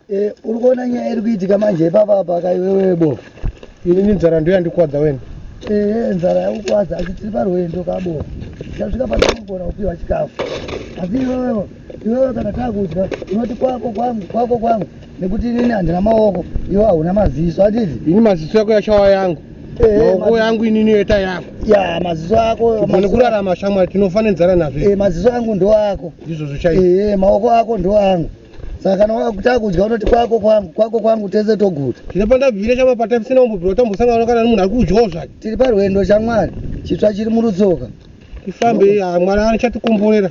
Eh, uri kuona nyaya iri kuitika manje ipapa apa kaiwewe bo inini nzara ndiyo yandikwadza wena ee nzara yakukwadza asi tiri parwendo kabo tasvika patinogona kupiwa chikafu asi iwewe iwewe kana takudya unoti kwako kwangu kwako kwangu nekuti inini handina maoko iwe hauna maziso atizi ini maziso yako yashawa yangu eh, maoko yangu inini yoita yako ya maziso ako ane kurarama shamwari tinofanenzana nazvo eh, maziso angu ndo ako ndizvozvo chaio eh, maoko ako ndo angu saka kana wakutaka kudya unoti kwako kwangu kwako kwangu tese toguta tine pandabvire chama patapisina umbobvira tambosangana kana nemunhu ari kudyawo zvake tiri parwendo chamwari chitsva chiri murutsoka tifambe mwari anochatikomborera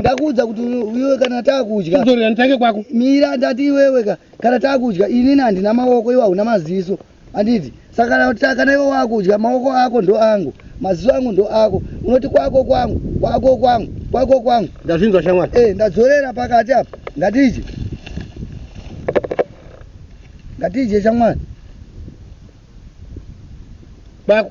ndakuudza kuti iwe kana takudya kuzorera nditange kwako mira ndati iwewe ka kana takudya inini handina maoko iwe hauna maziso handiti saka kana ta- kana iwe wakudya maoko ako ndo angu maziso angu ndo ako unoti kwako kwangu kwako kwangu kwako kwangu ndazvinzwa shamwari Eh, ndadzorera pakati apa ngatidye ngatidye shamwari kwako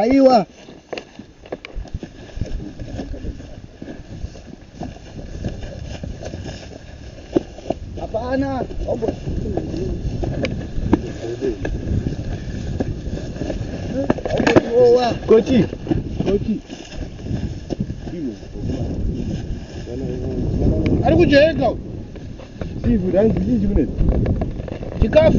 Aiwa. Hapana. Ombo. Kochi. Kochi. Ari kujeka. Sivu, ranzi chii chikunetsa? Chikafu.